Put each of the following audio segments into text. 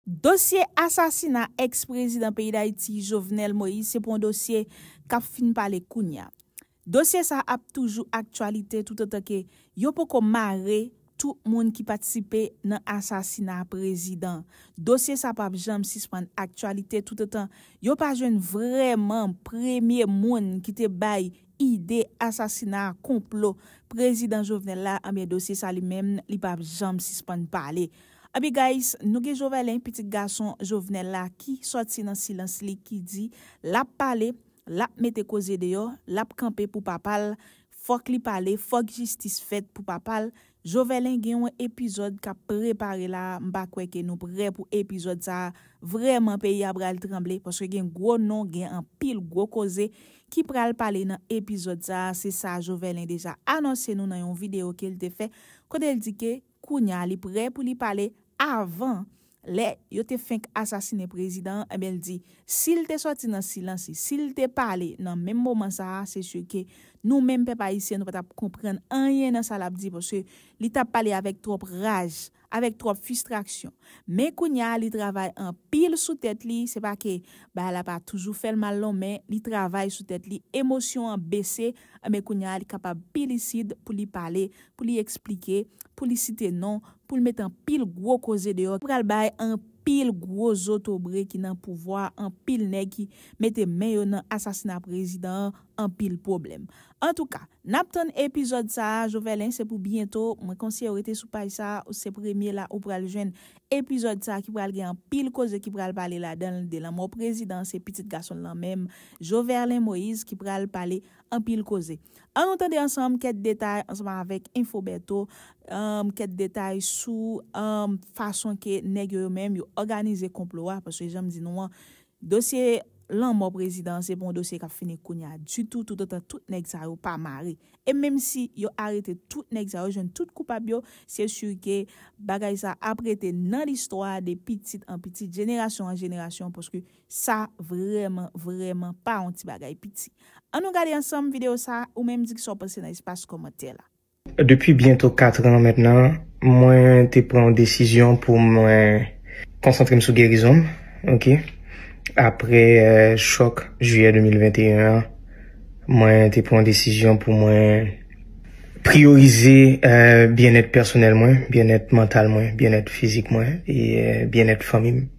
Dosye asasina ex prezidan peyi Dayiti Jovenel Moïse se pou yon dosye kap fin pale kounya. Dosye sa ap toujou aktyalite toutotan ke yo poko mare tout moun ki patisipe nan asasina prezidan. Dosye sa pap janm sispann aktyalite toutotan yo pa jwenn vrèman premye moun ki te bay ide asasina konplo prezidan Jovenel la anbyen dosye sa li menm li pap janm sispann pale. Aby guys nou gen jovelen pitit gason jovenel la ki sòti nan silans li ki di lap pale lap mete koze deyò lap kanpe pou papal fòk li pale fòk jistis fèt pou papal jovelen gen yon epizòd kap prepare la a mpa kwè ke nou prè pou epizòd sa a vrèman peyi a pral tranble paske gen gwo non gen anpil gwo koze ki pral pale nan epizòd sa a se sa jovelen deja anonse nou nan yon video kel te fè kotel di ke Kounya li prè pou li pale avan lè yo te fenk asasine prezidan an enben l di si l te sòti nan silans li si l te pale nan menm moman sa a se sur ke nou menm pèp ayisyen nou pa t ap konprann anyen nan sa l ap di paske li t ap pale avèk twòp raj avèk twòp fistraksyon men kounya li travay anpil sou tèt li se pa ke bagay la pa toujou fè l mal non men li travay sou tèt li emosyon an bese Enben kounye a li kapab pi lisid pou li pale, pou li eksplike, pou li site non, pou l met anpil gwo koze deyò ki pral bay anpil gwo zotobre ki nan pouvwa a, anpil nèg ki mete men yo nan asasina prezidan an, anpil pwoblèm. Antouka, n ap tann epizòd sa a, Jovelin se pou byento, mwen konseye w rete sou paj sa a, ou se premye la ou pral jwenn Epizòd sa ki pral gen anpil koze ki pral pale ladanl de lanmò prezidan se pitit gasonl lan menm Joverlein Moïse ki pral pale anpil koze an nou tande ansanm kèt detay ansanm avèk info Bertho kèt detay sou fason ke nèg yo yo menm yo òganize konplo a paske janm di nou an Dosye lanmò prezidan an se pa yon dosye kap fini kounya ditou toutotan tout nèg sa yo pa mare. E menm si yo arete tout nèg sa yo jwenn tout koupab yo se sur ke bagay sa ap rete nan listwa de pitit an pitit jenerasyon an jenerasyon paske sa vrèman vrèman pa yon ti bagay piti. An nou gade ansanm video sa ou menm di kisa w panse nan espas kòmantè la. Depi byento 4 an mentnan, mwen te pran yon desizyon pou mwen konsantre m sou gerizon m, ok. Aprè chòk jiyè 2021 an, mwen te pran yon desizyon pou mwen priyorize byennèt pèsonèl mwen, byennèt mantal mwen, byennèt fizik mwen e byennèt fanmi m.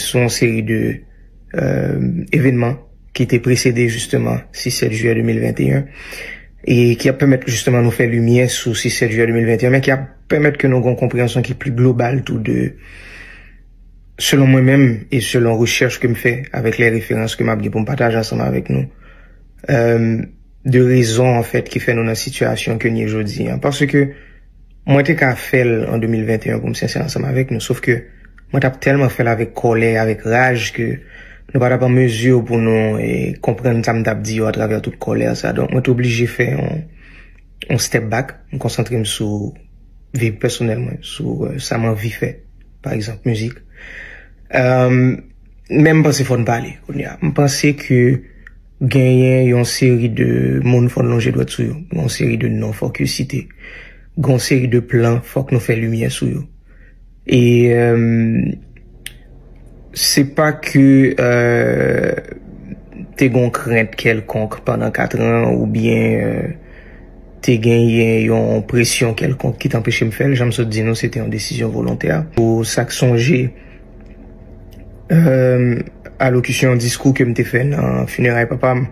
Sou yon seri de evenman ki te presede jisteman 6-7 jiyè 2021 e ki ap pèmèt jisteman nou fè limyè sou 6-7 jiyè 2021 men ki ap pèmèt ke nou gen yon konpreyansyon ki pli global tou de selon mwen menm e selon rechèch ke m fè avèk lè referans ke m ap gen pou m pataje ansanm avèk nou de rezon anfèt ki fè nou nan sitiyasyon ke n ye jodi an. Paske. Mwen te ka fè l an 2021 pou m sensè ansanm avèk nou, sof ke mwen t ap tèlman fè l avèk kòlè e avèk raj ke nou pa t ap an mezi pou nou konprann sa m t ap di yo atravè tout kòlè sa. Donk, mwen te oblije fè yon step back, m konsantre m sou vi pèsonèl mwen, sou sa m anvi fè, pa egzanp, mizik. Men m panse fò n pale kounye a. M panse ke. Genyen yon seri de moun fò n lonje dwèt sou yo. Gon seri de non fòk yo site. Gon seri de plan fòk nou fè limyè sou yo. E se pa ke te gon krent kèlkonk pandan katran oubyen te genyen yon presyon kèlkonk ki t anpeche m fè l. Jan m sot di nou se te yon desizyon volontè. Pou sa k sonje. Alokisyon diskou ke m te fè nan fineray papa m,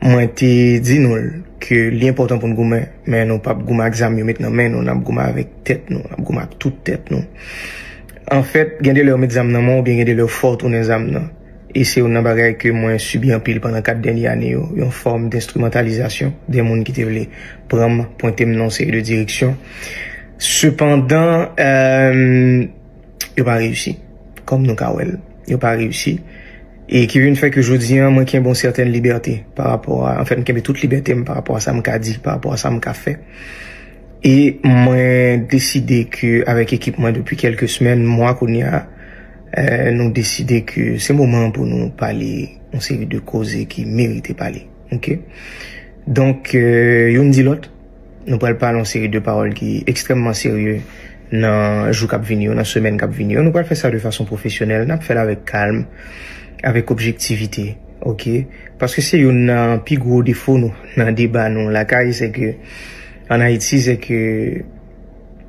mwen te di nou l ke li enpòtan pou n goumen, men nou pap goumen ak zam yo met nan men nou, n ap goumen avèk tèt nou, n ap goumen ak tout tèt nou. Anfèt, gen de lè ou met zam nan men w oubyen gen de lè ou fè w tounen zam nan. E se youn nan bagay ke mwen sibi anpil pandan 4 dènye ane yo, yon fòm denstrimantalizasyon de moun ki te vle pran m, pwente m nan yon seri de direksyon. Sepandan. yo pa reyisi. Kòm nou ka wè l, yo pa reyisi. E ki vin fè ke jodi an, mwen kenbe yon sèten libète pa rapò a, anfen mwen kenbe tout libète m pa rapò a sa m ka di, pa rapò a sa m ka fè. E mwen deside ke avèk ekip mwen depi kelke semèn, mwa kounye a, nou deside ke se moman pou nou pale yon seri de koze ki merite pale. Ok? Donk, youn di lòt. Nou pral pale yon seri de pawòl ki ekstrèmman serye nan jou k ap vini yo, nan semèn k ap vini yo. Nou pral fè sa de fason pwofesyonèl. N ap fè l avèk kalm, avèk objektivite, oke. Paske se youn nan pi gwo defo nou nan deba nou lakay, se ke an Ayiti, se ke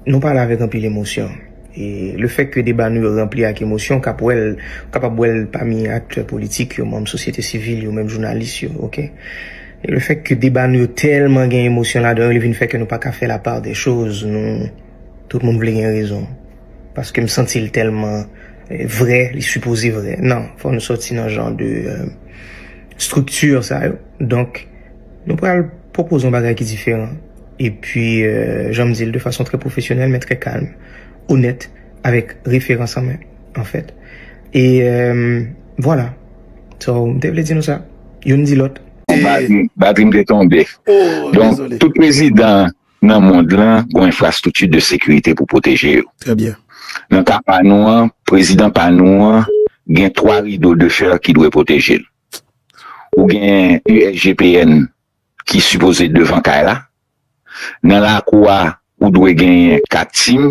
nou pale avèk anpil emosyon. E le fèt ke deba nou yo ranpli ak emosyon, w kab wè l, w kapab wè l pami aktè politik yo, manm sosyete sivil yo, menm jounalis yo, oke. E le fèt ke deba nou yo tèlman gen emosyon ladan yo, li vin fè ke nou pa ka fè la part des choses, nou tout moun vle gen rezon. Paske m santi l tèlman vrè, li sipoze vrè. Non, fò nou sòti nan jan de structure sa yo. Donk, nou pral pwopoze yon bagay ki diferan. E pi, jan m di l, de fason trè pwofesyonèl men trè kalm, onèt, avèk referans an men. an fèt e vwala so m te vle di nou sa youn di lòt. Batri m te tonbe. Donk tout prezidan nan mond lan gon enfrastrikti de sekirite pou pwoteje yo. Nan ka pa nou an, prezidan pa nou an gen 3 rido de fè ki dwe pwoteje l. Ou gen USGPN ki sipoze devan kay la. Nan lakou a ou dwe genyen kat sim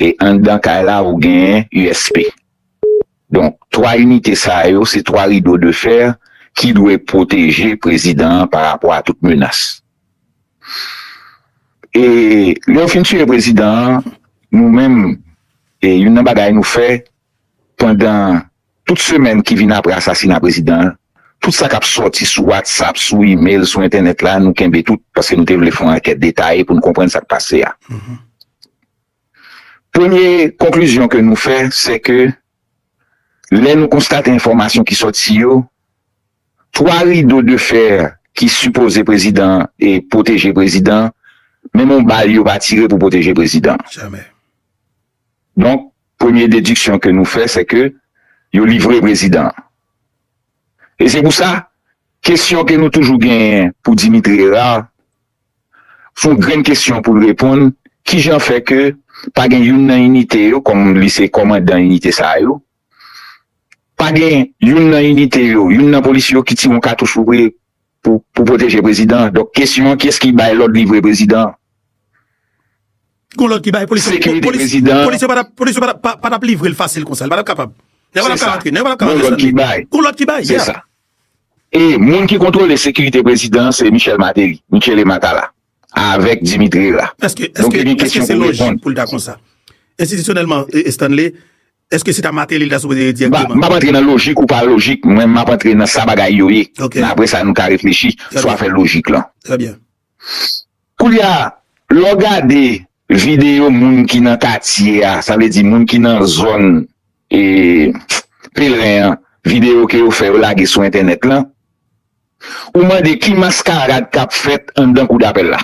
e anndan kay la ou genyen usp. Donk 3 inite sa yo se 3 rido de fer ki dwe pwoteje prezidan an pa rapò a tout menas. E lè yo fin tiye prezidan an nou menm e youn nan bagay nou fè pandan Tout semèn ki vin apre asasina prezidan an, tout sa k ap sòti sou Whatsapp, sou email, sou entènèt la, nou kenbe tout, paske nou te vle fè yon ankèt detaye pou nou konprann sa k pase a. Premye konklizyon ke nou fè, se ke lè nou konstate enfòmasyon ki sòti yo, 3 rido de fer ki sipoze prezidan an e pwoteje prezidan an, menm yon bal yo pa tire pou pwoteje prezidan an. Donk, premye dediksyon ke nou fè se ke yo livre prezidan an. E se pou sa, kesyon ke nou toujou genyen pou Dimitri Herard, fon grenn kesyon pou l reponn, kijan fè ke pa gen youn nan inite yo, kòm li se kòmandan inite sa yo, Pa gen youn nan inite yo, youn nan polisye yo ki tire yon katouch pou vre pou pwoteje prezidan an. Donk kesyon an, kiyès ki bay lòd livre prezidan an? Gon lòd ki bay polisye. Sekirite prezidan an. Polisye yo pa t ap livre l fasil konsa. Yo pa t ap kapab. Nèg yo pa t ap ka rantre. Nèg yo pa t ap ka rantre san li. Gon lòd ki bay. Se sa. E moun ki kontwole sekirite prezidan an se Michel Martelly, Michele Matala. Avèk Dimitri Hera. Donk yo gen kesyon pou reponn. Enstitisyonèlman, Stanley, èske se ta Martelly li ta sipoze ye dirèkteman? M ap antre nan lojik ou pa lojik, mwen m ap antre nan sa bagay yo ye. Men apre sa nou ka reflechi sou afè lojik lan. Trè byen. Koulye a, lè w gade videyo moun ki nan katye a, sa vle di moun ki nan zòn Pelerin an, videyo ke yo fè yo lage sou entènèt lan, Ou mande ki maskarad k ap fèt anndan kou dapèl la?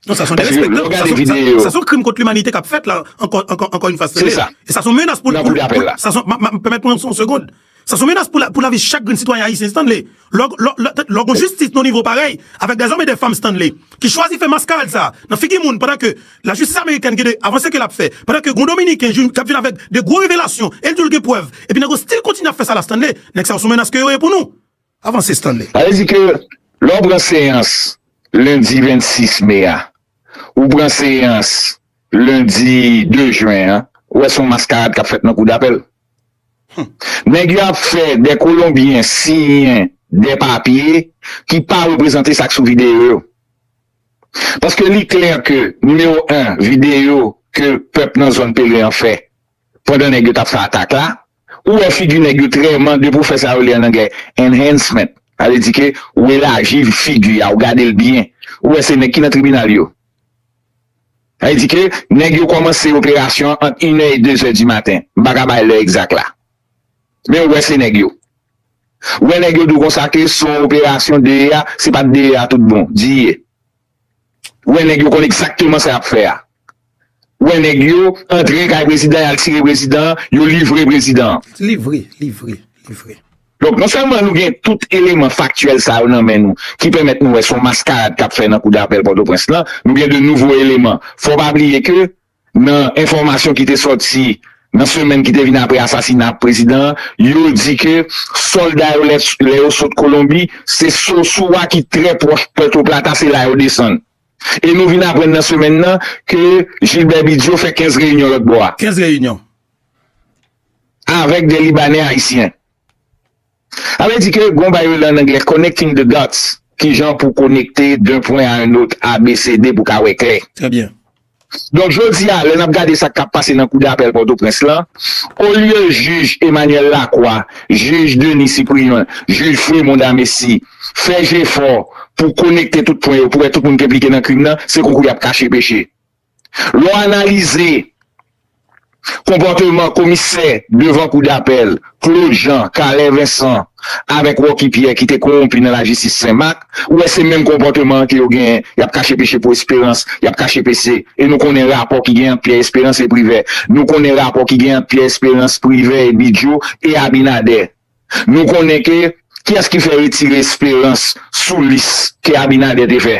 Non sa son derespektan, sa son sa son krim kont limanite sa son krim kont limanite k ap fèt la ankò une fwa se vre e sa son menas pou nan kou dapèl la sa son m ap pèmèt mwen yon segond sa son menas pou lavi chak grenn sitwayen ayisyen Stanley lò lò lò gon jistis nan nivo parèy avèk dè zòm e dè fanm Stanley ki chwazi fè maskarad sa nan figi moun pandan ke Lajistis amerikèn gen de avanse ke lap fè pandan ke gon dominiken jou kap vin avèk de gwo revelasyon el diw gen prèv epi nèg yo stil kontinye ap fè sa la Stanley nèg sa yo sou menas ke yo ye pou nou avanse Stanley. Sa vle di ke lè w pran seyans lendi 26 me a, ou pran seyans lendi 2 jen an, ou wè se yon maskarad k ap fèt nan kou dapèl. Nèg yo ap fè de kolonbyen siyen de papye ki pa reprezante sa k sou videyo yo. Paske li klè ke nimewo 1 videyo ke pèp nan zòn Pele an fè pandan nèg yo tap fè atak la, ou wè figi nèg yo trè man depi ou fè sa yo rele an anglè enhancement, sa vle di ke ou elaji figi a, ou gade l byen, ou wè se nèg ki nan tribinal yo. Sa vle di ke nèg yo kòmanse operasyon an ant inè e dezè di maten, m pa ka bay lè egzak la. Men ou wè se nèg yo. Ou wè nèg yo di w konsa ke se yon operasyon DEA, se pa t DEA tout bon. Di ye. Ou wè nèg yo konn egzakteman sa y ap fè a. Ou wè nèg yo antre kay prezidan an, y al tire prezidan an, yo livre prezidan an. Livre, livre, livre. Donk, non sèlman nou gen tout eleman faktyèl sa yo nan men nou ki pèmèt nou wè se yon maskarad k ap fè nan kou dapèl Pòtoprens lan, nou gen de nouvo eleman. Fò w pa bliye ke Nan enfòmasyon ki te sòti nan semèn ki te vin apre asasina prezidan an, yo di ke sòlda yo lè yo sot Kolonbi, se Sosua ki trè pwòch Puerto Plata, se la yo desann. E nou vin aprann nan semèn nan ke Gilbert Bigio fè 15 reyinyon lòt bò a. 15 reyinyon? Avèk 2 Libanè Ayisyen. Sa vle di ke gon bagay yo rele an anglè connecting the dots, kijan pou konekte d'un point à un autre, ABCD pou ka wè klè. Trè byen. Donk jodi a, lè n ap gade sa k ap pase nan kou dapèl Pòtoprens lan, olye jij Emmanuel Lacroix, jij Denis Cyprien, jij Fremond Amesi fè jefò pou konekte tout pwen yo pou wè tout moun k enplike nan krim nan, se koukou y ap kache peche. Lè w analize konpòteman komisè devan kou dapèl Claude Jean, Carlin Vincent avèk Rocky Pierre ki te kowonpi nan lajistis Senmak, ou wè se menm konpòteman an ke yo genyen, y ap kache peche pou Esperans, y ap kache pese. E nou konnen rapò ki genyen ant Pyè Esperans e Privè. Nou konnen rapò ki genyen ant Pyè Esperans, Privè e Bidjo e Abinadè. Nou konnen ke kiyès ki fè retire Esperans sou lis ke Abinadè te fè?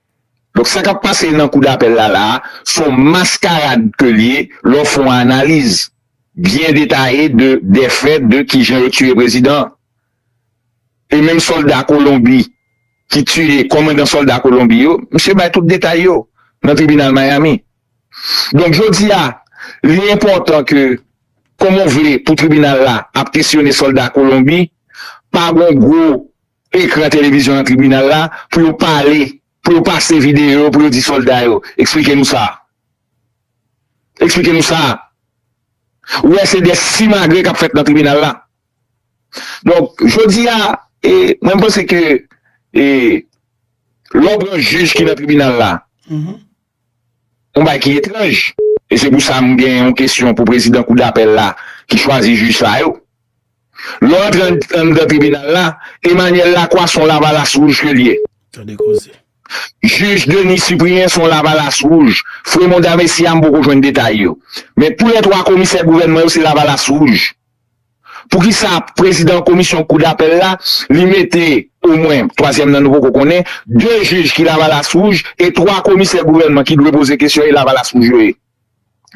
Donk sa kap pase nan kou dapèl la la a, s on maskarad ke l ye lè w fè yon analiz byen detaye de dè fè de kijan yo tiye prezidan an. E menm sòlda Kolonbi ki tiye kòmandan sòlda Kolonbi yo, misye bay tout detay yo nan tribinal Miami. Donk jodi a, li enpòtan ke kòman w vle pou tribinal la ap kesyone sòlda Kolonbi, pa gen yon gwo ekran televizyon nan tribinal la pou yo pale, pou yo pase videyo yo pou yo di sòlda yo, eksplike nou sa. Eksplike nou sa. Ou wè se de simagri k ap fèt nan tribinal la. Donk, jodi a, e mwen panse ke e lè w pran jij ki nan tribinal la, Yon bagay ki etranj. E se pou sa m gen yon kesyon pou prezidan kou dapèl la ki chwazi jij sa yo. Lè w antre anndan tribinal la, Emanyèl Lakwa s on lavalas wouj ke l ye. Tande koze. Jij Deni Sipriyen s on lavalas wouj. Fremon Damesi a m poko jwenn detay yo. Men tou lè twa komisè gouvènman yo se lavalas wouj. Poukisa prezidan komisyon kou dapèl la li mete o mwen, twazyèm nan nou poko konnen, 2 jij ki lavalas wouj e 3 komisè gouvènman ki dwe poze kesyon e lavalas wouj yo ye?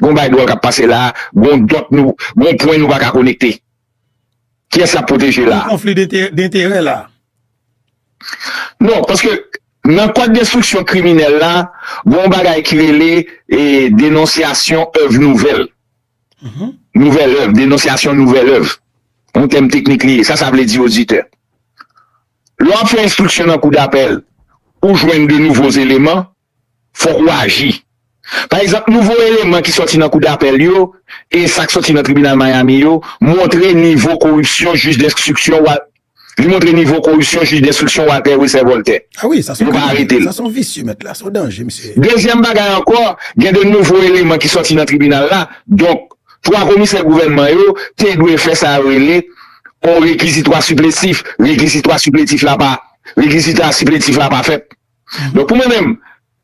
Gon bay dwòl kap pase la a, gon dòt nou, gon pwen nou paka konekte. Kiyès yap pwoteje la a? Gon konfli denterè la a. Non, paske nan kòd denstriksyon kriminèl la, gon bagay ki rele denonsyasyon èv nouvèl. Nouvèl èv, denonsyasyon nouvèl èv, yon tèm teknik li ye, sa sa vle di oditè? Lè w ap fè enstriksyon nan kou dapèl, ou jwenn de nouvo eleman, fòk ou aji. Pa egzanp, nouvo eleman ki sòti nan kou dapèl yo e sa k sòti nan tribinal Miami yo montre nivo koripsyon jij denstriksyon w ap Li montre nivo koripsyon jij denstriksyon Walter Wilcer Voltè. A wi, sa son kriminèl, sa son visye mèt la, son danje misye ye. Dezyèm bagay ankò, gen 2 nouvo eleman ki sòti nan tribinal la, donk 3 komisè gouvènman yo te dwe fè sa yo rele on rekizitwa siplesif, rekizitwa sipletif la pa, rekizita sipletif la pa fèt. Donk pou mwen menm,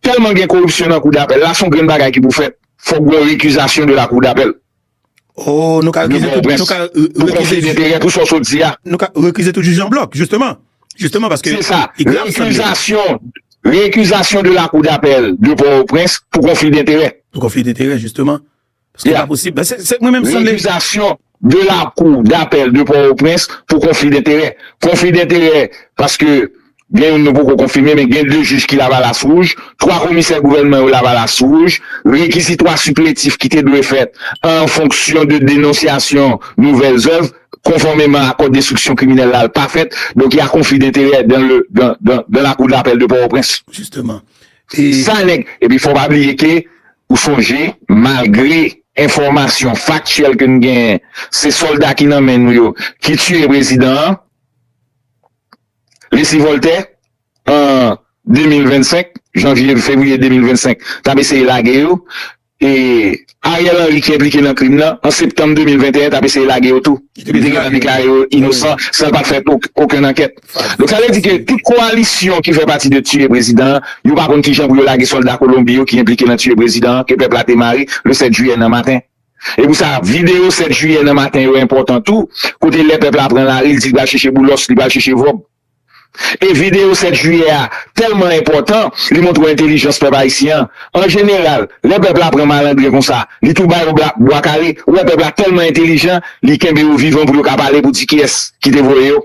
tèlman gen koripsyon nan kou dapèl la, son grenn bagay ki pou fèt, fòk gen on rekizasyon de la kou dapèl. Oh nou ka rekize tout, nou ka rekize tout Pou konfye pou sa w sot di a Nou ka rekize tout jij an blòk, jisteman Jisteman paske Se sa, rekizasyon Rekizasyon de lakou dapèl de Pòtoprens pou konfye denterè Pou konfye denterè jisteman Paske se pa posib, se se mwen menm sanble Rekizasyon de lakou dapèl de Pòtoprens pou konfye denterè Konfye denterè paske Gen youn nou poko konfime men gen 2 jij ki lavalas wouj, 3 komisè gouvènman yo lavalas wouj, rekizitwa siplentif ki te dwe fèt an fonksyon de denonsyasyon nouvèl zèv konfòmeman a kòd enstriksyon kriminèl la pa fèt, donk ya konfli denterè dan le dan dan dan lakou dapèl de Pòtoprens. Jisteman. E. Sa nèg. Epi fò w pa bliye ke ou sonje malgre enfòmasyon faktyèl ke n genyen se sòlda ki nan men nou yo ki tiye prezidan an, Leslie Voltaire, an 2025, janvye, fevriye 2025, t ap eseye lage yo, e Ariel Henry ki enplike nan krim nan, an septanm 2021, t ap eseye lage yo tou. Li te gentan deklare yo inosan san l pa t fè okenn ankèt. Donk sa vle di ke tout kowalisyon ki fè pati de tiye prezidan an, yo pa konn kijan pou yo lage sòlda Kolonbi yo ki enplike nan tiye prezidan an ke pèp la te mare le 7 jiyè nan maten. Se pou sa, videyo 7 jiyè nan maten yo enpòtan tou, kote lè pèp la pran lari, l di l pral chèche Boulos, li pral chèche Vob. E videyo 7 jiyè a tèlman enpòtan, li montre entelijans pèp ayisyen an. An jeneral, lè pèp la pran malandren konsa, li tou ba yo bwa kale. Ou wè pèp la tèlman entelijan, li kenbe yo vivan pou yo ka pale pou di kiyès ki te voye yo.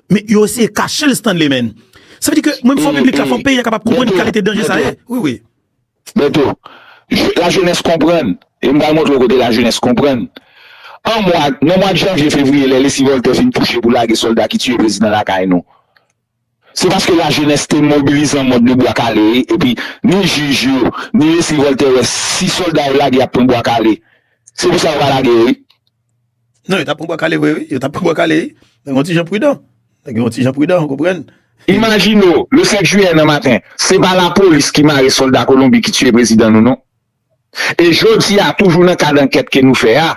Men yo eseye kachel Stanley menn. Sa vle di ke mwen fò piblik la fò peyi a kapab konprann kalite danje sa ye. Wi wi. Bèto, la jenès konprann e m pral montre w kote la jenès konprann. An mwa, nan mwad janvye fevriye lè Lesy Voltaire fin touche pou lage sòlda ki tiye prezidan lakay nou. Se paske la jenès te mobilizan mòd nou bwa kale wi epi ni jij yo, ni Lesy Voltaire wè si sòlda yo lage y ap pran bwa kale. Se pou sa yo pa lage yo wi. Non yo tap pran bwa kale vre wi, yo tap pran bwa kale wi, nèg yon ti jan pridan, nèg yon ti jan pridan ou konprann. Imajine w, le 5 jiyè nan maten, se pa lapolis ki mare sòlda Kolonbi ki tiye prezidan nou non. E jodi a, toujou nan kad ankèt ke nou fè a,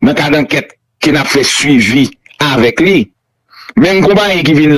nan kad ankèt ke n ap fè swivi avèk li, menm konpayi ki vin.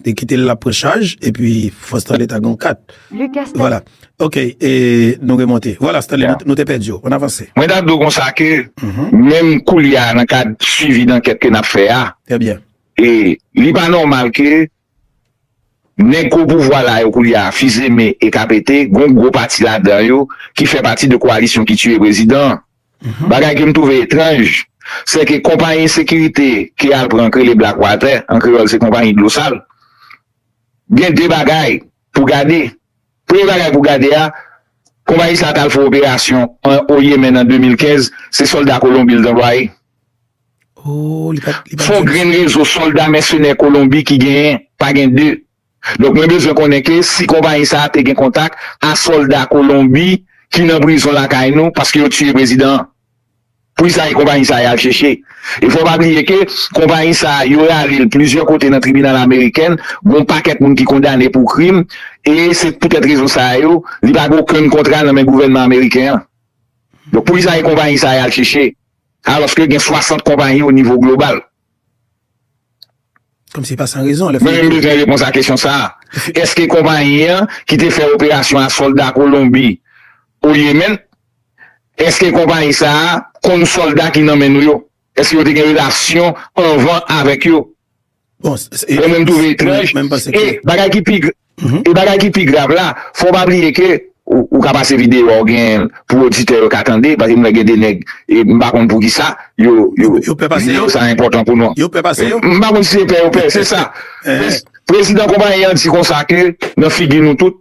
Te kite l lap pran chaj epi fò Stanley ta gen yon kat. Vwala ok e nou remonte. Vwala Stanley nou te pèdi w. Ann avanse. Mwen ta di w konsa ke menm koulye a nan kad swivi dankèt ke n ap fè a. Trè byen. E li pa nòmal ke nèg gwo pouvwa la yo koulye a Fils-Aimé e KPT gen yon gwo pati ladan yo ki fè pati de koalisyon ki tiye prezidan an. Bagay ke m twouve etranj, se ke konpayi sekirite ke al pran k rele Black Water, an kreyòl se konpayi dlo sal, gen 2 bagay pou gade. Premye bagay pou gade a, konpayi sa a t al fè operasyon an o Yemen an 2015, se sòlda Kolonbi l t anplwaye. Fon grenn rezo sòlda mèsenè Kolonbi ki genyen, pa gen 2. Donk mwen bezwen konnen ke si konpayi sa a te gen kontak a sòlda Kolonbi ki nan prizon lakay nou paske yo tiye prezidan an. Pou ki sa e konpayi sa a y al cheche? E fò w pa bliye ke konpayi sa a yo rale l plizyè kote nan tribinal ameriken, gon pakèt moun ki kondane pou krim e se poutèt rezon sa a yo li pa gen okenn kontra nan men gouvènman ameriken an. Donk pou ki sa e konpayi sa a y al cheche alòske gen 60 konpayi o nivo global? Mwen renmen vrè repons a kesyon sa a. Eske konpayi an ki te fè operasyon a sòlda Kolonbi o Yemen, eske konpayi sa a konn sòlda ki nan men nou yo? Eske yo te gen relasyon anvan avèk yo? Mwen menm twouve etranj e bagay ki pi. E bagay ki pi grav la, fò w pa bliye ke ou ka pase videyo a ou gen pou oditè yo ka tande, paske m wè gen 2 nèg e m pa konn poukisa yo videyo sa enpòtan pou nou. M pa konn si se pè yo pè, se sa. Prezidan konpayi an di konsa ke nan figi nou tout,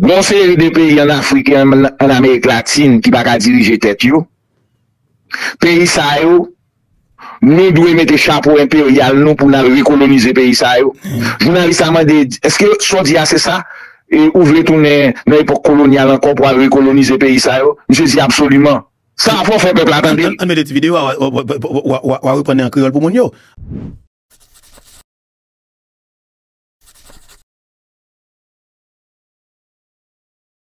gen yon seri de peyi an Afrik e an Amerik Latin ki pa ka dirije tèt yo. Peyi sa yo Nou dwe mete chapo enperyal nou pou n al rekolonize peyi sa yo? Jounalis la mande, Èske sa w di a se sa? Ou vle tounen nan epòk kolonyal ankò pou al rekolonize peyi sa yo? Misye di, Absoliman! Sa a fè w fè pèp la tande l. Ann mete ti videyo a, w a reprann li an kreyòl pou moun yo.